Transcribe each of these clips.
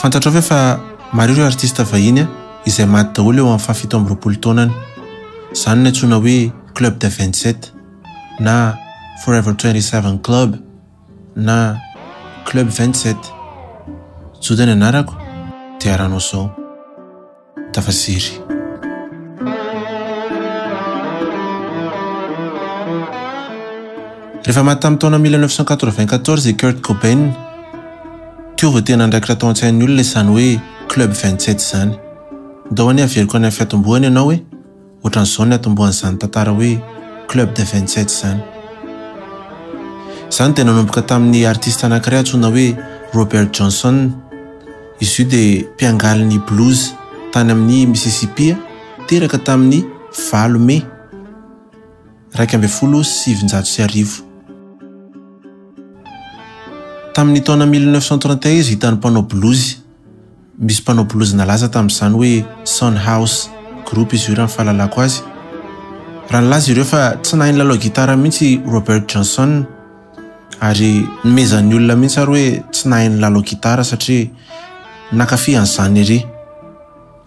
Fantatrao ve fa maro ireo artista vahiny izay maty daholo eo amin'ny fahafito amby roapolo taonany. Izany no antsoina hoe Club des 27 na Forever 27 Club na Club 27. Juda ny anarako, dia aranao izao. Tafasery. Rehefa maty tamin'ny taona 1994 i Kurt Cobain, teo vao tena andraikitra tao an-tsain'ny olona izany hoe Club 27 izany. Ndao anie averiko any amin'ny fiatombohany ianao e! Ohatran'izao ny atombohan'izany tantara hoe Club des vingt sept izany. Izany dia nanomboka tamin'ny artista anankiray antsoina hoe Robert Johnson. Izy io dia mpiangaly ny blues tany amin'ny Mississippi, teraka tamin'ny valo Mey iraika ambin'ny folo sy sivinjato sy arivo. Tamin'ny taona mille neuf cent trente et un izy hitan'ny mpanao blues Misy mpanao blues nalaza tamin'izany hoe Son House Group izy io raha ny fahalalako azy. Raha nilaza ireo fa tsy nahay nilalao gitara mihitsy i Robert Johnson ary nomezan'ny olona mihitsy ary hoe tsy nahay nilalao gitara satria nankafy an'izany ery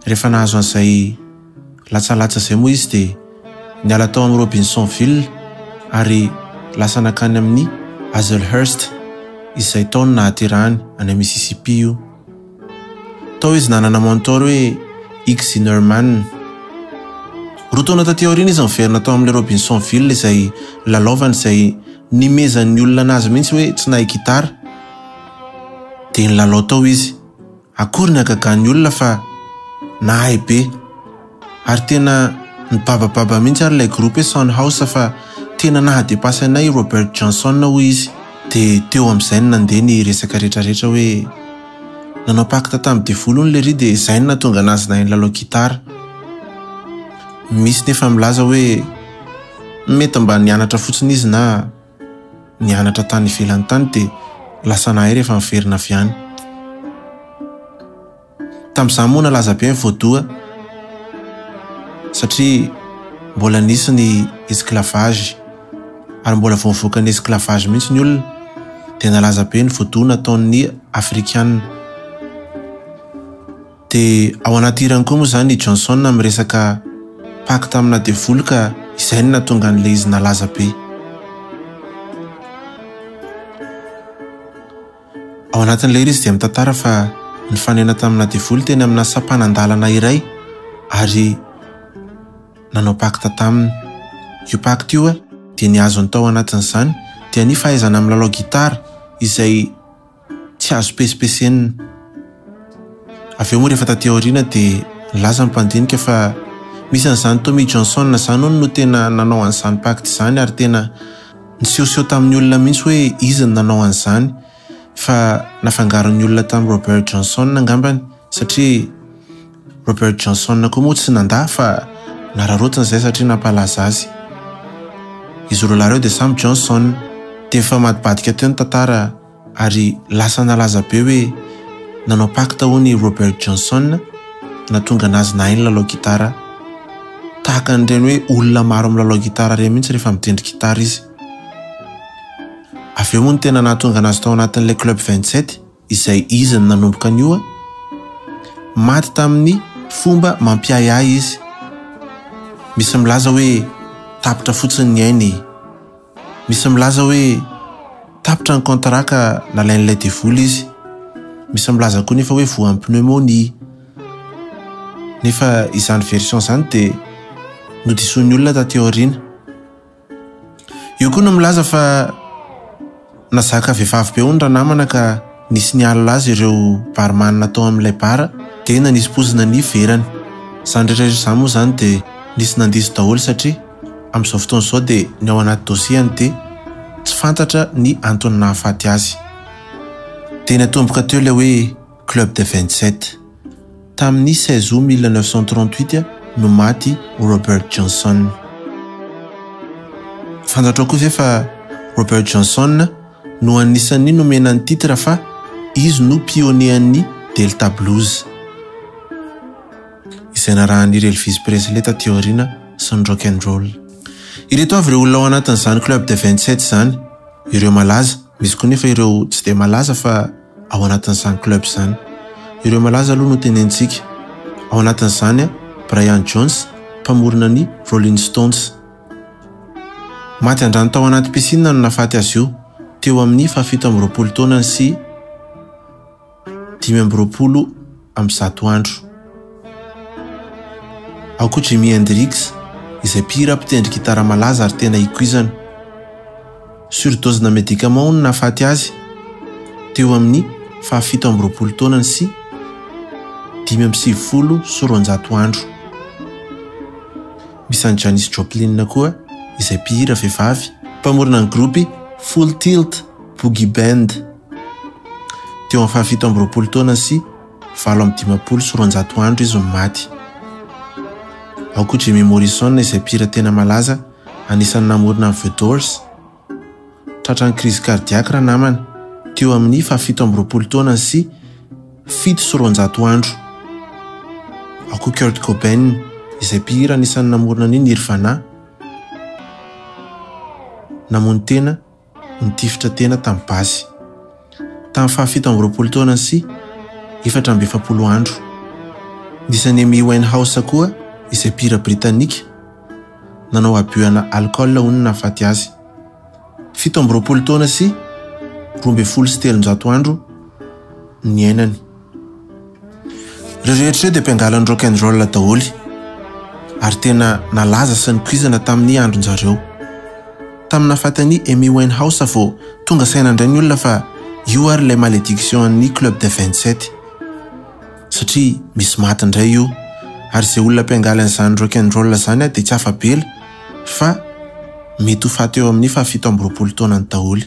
rehefa nahazo an'izay Latsalatsa izay moa izy dia niala tao amin'ny Robinsonville ary lasa nankany amin'ny Hazelhurst izay tao no nahaterahany any Mississippi io. Tao izy nanana mentor hoe Ike Zinnerman. Roa taona taty aoriana izy niverina tao amin'ilay Robinsonville izay nilalaovany izay nimezan'ny olona anazy mihitsy hoe tsy nahay gitara dia nilalao tao izy Akory ny hagagan'ny olona fa nahay be. Ary tena nibabababa mihitsy ary ilay groupe hoe Son House fa tena naha depasse anay i Robert Johnson hoy izy. Dia teo amin'izay no nandeha ny resaka rehetrarehetra hoe nanao pacte tamin'ny devoly hono lery dia izay no nahatonga anazy nahay nilalao gitara. Misy ny efa milaza hoe mety mba nianatra fotsiny izy na. nianatra tany ivelany tany dia lasa nahay rehefa niverina avy any. Tamin'izany moa nalaza be ny voadoha satria mbola nisy ny esclavage ary mbola vao mivoaka ny esclavage mihitsy ny olona dia nalaza be ny voadoha nataon'ny afrikana. Dia ao anaty hirany koa moa izany i Johnson miresaka pacte amina devoly ka izay no nahatonga an'ilay izy nalaza be. Ao anatin'ilay hira izy dia mitantara fa nifanena tamina devoly teny amina sampanan-dalana iray ary nanao pacte taminy. Io pacte io dia ny azony tao anatin'izany dia ny fahaizana milalao gitara izay Tsy azo pesipesenina. Avy eo moa rehefa taty aoriana dia nilaza ny mpandinika fa misy an'izany Tommy Johnson izany hono no tena nanao an'izany pacte izany ary tena nisehoseho tamin'ny olona mihitsy hoe izy no nanao an'izany fa nafangaron'ny olona tamin'i Robert Johnson angambany satria Robert Johnson koa moa tsy nandà fa nararaotiny izay satria nampalaza azy. Izy roalahy ireo dia samy Johnson. Dia nifamadibadika teo ny tantara ary lasa nalaza be hoe nanao pacte hono i Robert Johnson nahatonga anazy nahay ny lalao gitara. Tahaka an'ireny hoe olona maro milalao gitara ireny mihitsy rehefa mitendry gitara izy. Avy eo moa no tena nahatonga anazy tao anatin'ilay Club 27. Izay izy no nanomboka an'io an! Maty tamin'ny fomba mampiahiahy izy. Misy milaza hoe tapitra fotsiny ny ainy. Misy milaza hoe tapitra ny contrat ka nalain'ilay devoly izy. Misy milaza koa nefa hoe voan'ny pneumonie. Nefa izany version izany dia nodisoin'ny olona taty aoriana. Eo koa no milaza fa nazaka vehivavy be hono ranamana ka nisy nialona azy ireo barman tao amin'ilay bar dia nanisy pozina ny verany. Izany rehetra rehetra izany moa izany dia nisy nandiso daholo satria amin'izao fotoana izao dia ny ao anaty dosiany dia tsy fantatra ny antony nahafaty azy. Dia natomboka teo ilay hoe. Club des Vingt-Sept. Tamin'ny seize août mille neuf cent trente-huit no maty Robert Johnson. Fantatrao koa ve fa Robert Johnson no anisan'ny nomena ny titre fa izy no pionean'ny Delta Blues, izay narahan'I Elvis Presley taty aoriana sy ny Rock and Roll. Ireto avy ireo olona ao anatin'izany Club des Vingt-Sept izany, ireo malaza, misy koa nefa ireo tsy dia malaza fa. ao anatin'izany club izany. Ireo malaza aloha no tenentsika. Ao anatin'izany Brian Jones, mpamorona ny Rolling Stones. Maty an-drano tao anaty piscine no nahafaty azy io, teo amin'ny fahafito amby roapolo taonany sy dimy amby roapolo amin'ny zato andro. Ao koa Jimi Hendrix izay mpihira mpitendry gitara malaza ary tena ikoizana. Surdose-na medicaments no nahafaty azy, teo amin'ny faha fito amby roapolo taonany sy dimy amby sivifolo sy roanjato andro. Misy an'i Janis Joplin koa izay mpihira vehivavy, mpamorona ny gropy Full Tilt Boogie Band. Teo amin'ny fahafito amby roapolo taona sy valo amby dimampolo sy roanjato andro izy no maty. Ao koa Jimmy Morrison izay mpihira tena malaza anisan'ny namorona ny The Doors. Tratran'ny krizy kardiaky ranamana teo amin'ny fahafito amby roapolo taona sy fito sy roanjato andro. Ao koa Kurt Cobain izay mpihira anisan'ny namorona ny Nirvana. Namono tena Nitifitra tena tamin'ny basy tamin'ny fahafito amby roapolo taonany sy efatra amby efapolo andro. Nisy an'i Amy Winehouse koa, izay mpihira Britanika, nanao abiohana alikaola hono nahafaty azy. Fito amby roapolo taona sy roa ambin'ny folo sy telonjato andro niainany. Ireo rehetra ireo dia mpiangaly ny rock and roll daholo ary tena nalaza sy nikoizana tamin'ny andron-jareo. Tamin'ny nahafatan'i Amy Winehouse vao tonga saina indray ny olona fa io ary ilay malédiction an'ny Club des 27. Satria misy maty indray io ary izay olona mpiangaly an'izany rock and roll izany dia tsy afa-bela fa mety ho faty eo amin'ny fahafito amby roapolo taonany daholo.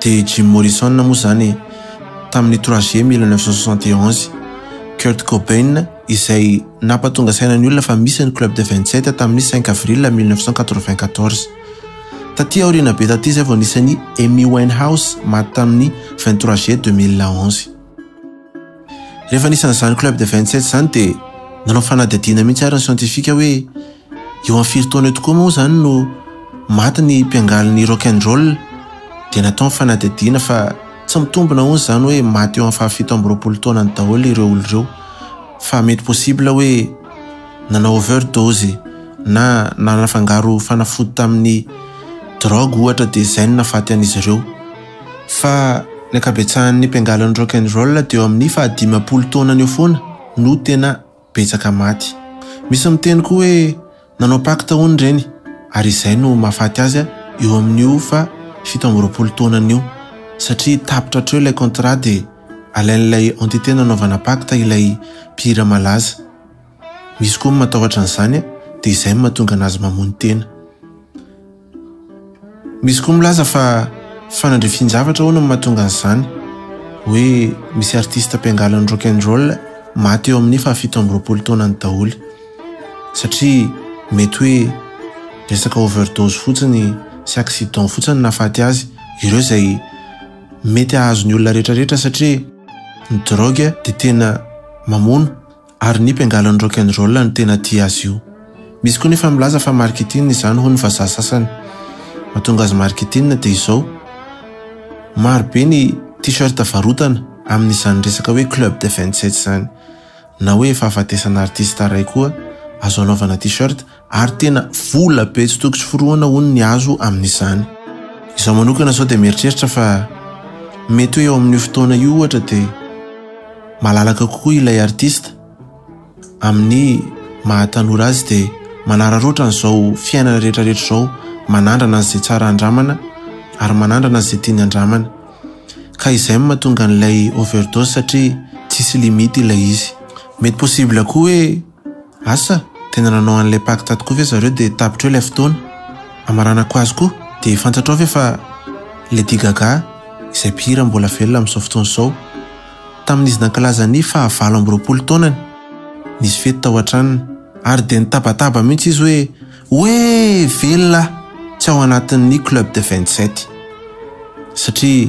Dia Jim Morrison moa izany e! Tamin'ny trois juillet mille neuf cent soixante et onze, Kurt Cobain izay nampatonga saina ny olona fa misy ny Club des vingt sept tamin'ny cinq avril mille neuf cent quatre vingt quatorze. Taty aoriana be taty izay vao nisy an'i Amy Winehouse maty tamin'ny vingt trois juillet deux mille onze. Rehefa nisy an'izany Club des vingt sept izany dia nanao fanadihadiana mihitsy ary ny siantifika hoe Eo amin'ny firy taona eo tokoa moa izany no maty ny mpiangalin'ny rock and roll dia natao ny fanadihadiana fa tsy mitombina hono izany hoe maty eo amin'ny fahafito amby roapolo taonany daholo ireo olona ireo fa mety possible hoe nanao overdose na nanafangaro fanafody tamin'ny drogue ohatra dia izay no nafaty an'izy ireo fa ny ankabetsahan'ny mpiangalin'ny rock and roll dia eo amin'ny fahadimampolo taonany eo foana no tena betsaka maty. Misy miteny koa hoe nanao pacte hono ireny ary izay no mahafaty azy eo amin'io fa fito amby roapolo taonany io satria tapitra hatreo ilay contrat dia alain'ilay entité nanaovana pacte ilay mpihira malaza. Misy koa ny matahotra an'izany dia izay no mahatonga an'azy mamono tena. Misy koa milaza fa fanadrifian-javatra hono no mahatonga an'izany. Hoe misy artista mpiangalan'ny rock and roll maty eo amin'ny fahafito amby roapolo taonany daholo. Satria mety hoe resaka overdose fotsiny sy accident fotsiny nahafaty azy ireo izay mety hahazo ny olona rehetra rehetra satria ny drogue dia tena mamono Ary ny bengalan'ny rock and roll no tena tia azy io. Misy koa nefa milaza fa marketing izany hoy ny vazaha sasany. Mahatonga azy marketing dia izao, maro be ny t-shirt varotana amin'izany resaka hoe club des vingt sept izany. Na hoe fahafatesana artista iray koa azo anaovana t-shirt. ary tena vola be tsy toko tsy forohana hono ny azo amin'izany. Izaho manokana izao dia mieritreritra fa mety hoe eo amin'io fotoana io ohatra dia malalaka kokoa ilay artista amin'ny maha tanora azy dia manararaotra an'izao fiainana rehetrarehetra izao manandrana an'izay tsara andramana ary manandrana an'izay tiany andramana ka izay no mahatonga an'ilay overdose satria tsisy limite ilay izy mety possible koa hoe Asa, tena nanao an'ilay pacte tokoa ve zareo dia tapitra eo ilay fotoana? Hamaranako azy koa, dia fantatrao ve fa Lady Gaga, izay mpihira mbola velona amin'izao fotoana izao, tamin'izy nankalaza ny fahavalo amby roapolo taonany, nisy fety tao an-tranony, ary dia nitabataba mihitsy izy hoe, Oe! Velona aho! Tsy ao anatin'ny Club de vingt-sept! Satria.